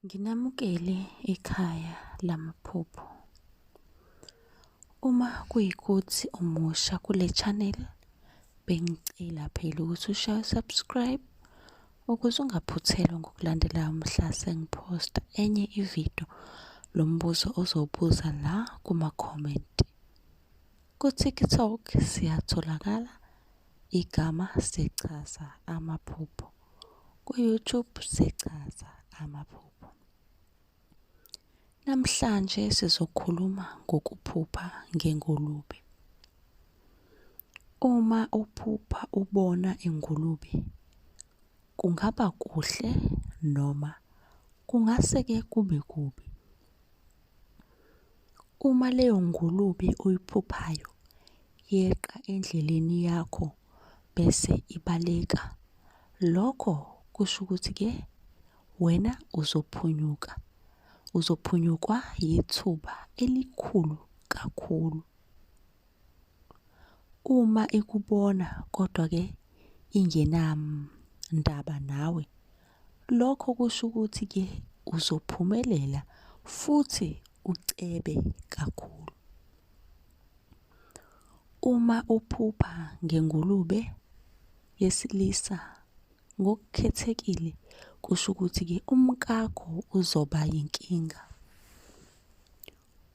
Nginamukele ekhaya lamaphupho. Uma kuyikuthi umusha kule channel bengicela phela ukuthi ushaye subscribe ukuze ungaphuthelwa ngokulandela umhla sengiphosta enye ividiyo lombuzo ozowubuza la kuma-comment. Ku-TikTok siyatholakala igama sichaza amaphupho. Ku-YouTube sichaza amaphupho. Namhlanje sizokhuluma ngokuphupha ngengulube. Uma uphupha ubona ingulube kungaba kuhle noma kungase-ke kube kubi. Uma leyo ngulube oyiphuphayo yeqa endleleni yakho bese ibaleka, lokho kusho ukuthi-ke wena uzophunyuka. Uzophunyukwa yithuba elikhulu kakhulu. Uma ikubona kodwa-ke ingenandaba nawe. Lokho kusho ukuthi ke uzophumelela futhi ucebe kakhulu. Uma uphupha ngengulube yesilisa ngokukhethekile kusho ukuthi ke umkakho uzoba yinkinga.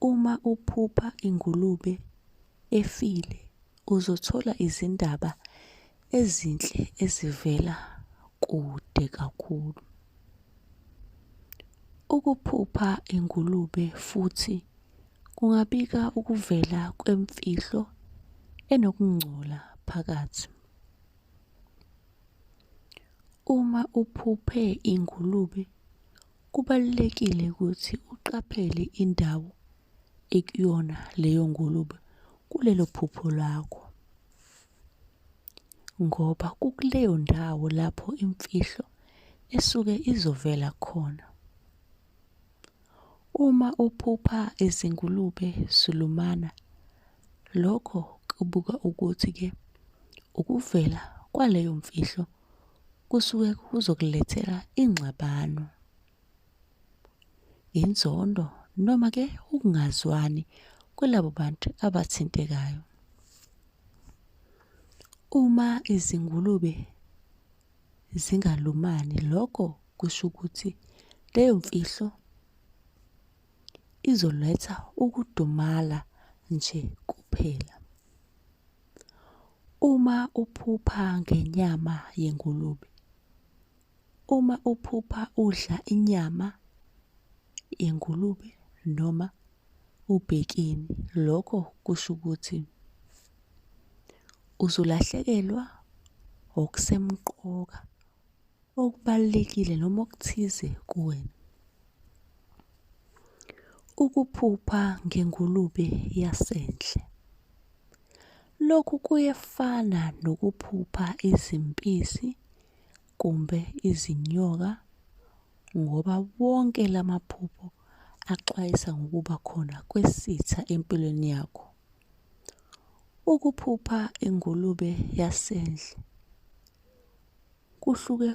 Uma uphupha ingulube efile uzothola izindaba ezinhle ezivela kude kakhulu. Ukuphupha ingulube futhi kungabika ukuvela kwemfihlo enokungcola phakathi. Uma uphuphe ingulube Kubalulekile ukuthi uqaphele indawo ekuyona leyo ngulube kulelo phupho lakho. Ngoba kukuleyo ndawo lapho imfihlo esuke izovela khona. Uma uphupha izingulube zulumana lokho kubuka ukuthi-ke ukuvela kwaleyo mfihlo kusuke kuzokulethela ingxabano inzondo noma ke ukungazwani kwelabo bantu abathintekayo uma izingulube zingalumani lokho kusho ukuthi leyo mfihlo izoletha ukudumala nje kuphela Uma uphupha ngenyama yengulube. Uma uphupha udla inyama yengulube noma ubhekeni, lokho kusho ukuthi uzolahlekelwa okusemqoka. okubalulekile noma okuthize kuwena. Ukuphupha ngengulube yasendle. Lokhu kuyefana nokuphupha izimpisi kumbe izinyoka ngoba wonke la maphupho axwayisa ngokuba khona kwesitha empilweni yakho. Ukuphupha ingulube yasendle Kuhluke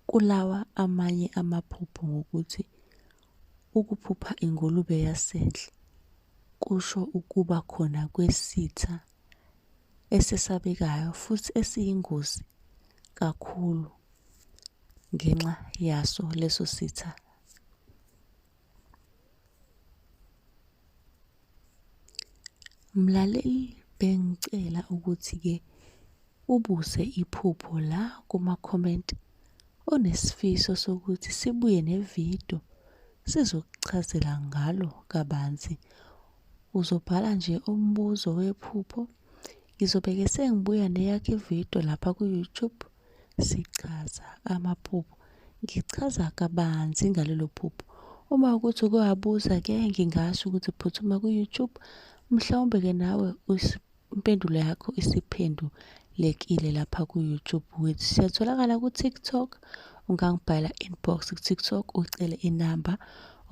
kulawa amanye amaphupho ngokuthi ukuphupha ingulube yasendle kusho ukuba khona kwesitha esesabekayo futhi esiyingozi kakhulu ngenxa yaso leso sitha Mlaleli bengicela ukuthi-ke ubuse iphupho la kuma-comment onesifiso sokuthi sibuye nevidiyo sizokuchazela ngalo kabanzi. Uzobhala nje umbuzo wephupho, ngizobe-ke sengibuya neyakho ividiyo lapha ku-YouTube Sichaza amaphupho. Ngichaza kabanzi ngalelo phupho. Uma ukuthi uke wabuza ke ngingasho ukuthi phuthuma ku-YouTube mhlawumbe ke nawe impendulo yakho isiphendulekile lapha ku-YouTube wethu. Siyatholakala ku-TikTok, ungangibhala inbox ku-TikTok ucele inamba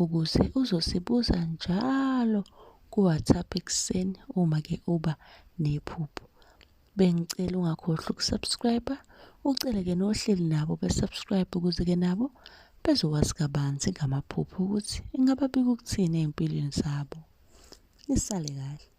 ukuze uzosibuza njalo ku-WhatsApp ekuseni uma ke uba nephupho. bengicela ungakhohlwa ukusubscribe ucele-ke nohleli nabo besubscribe ukuze-ke nabo bezokwazi kabanzi ngamaphupho ukuthi ingababika ukuthini ey'mpilweni zabo nisale kahle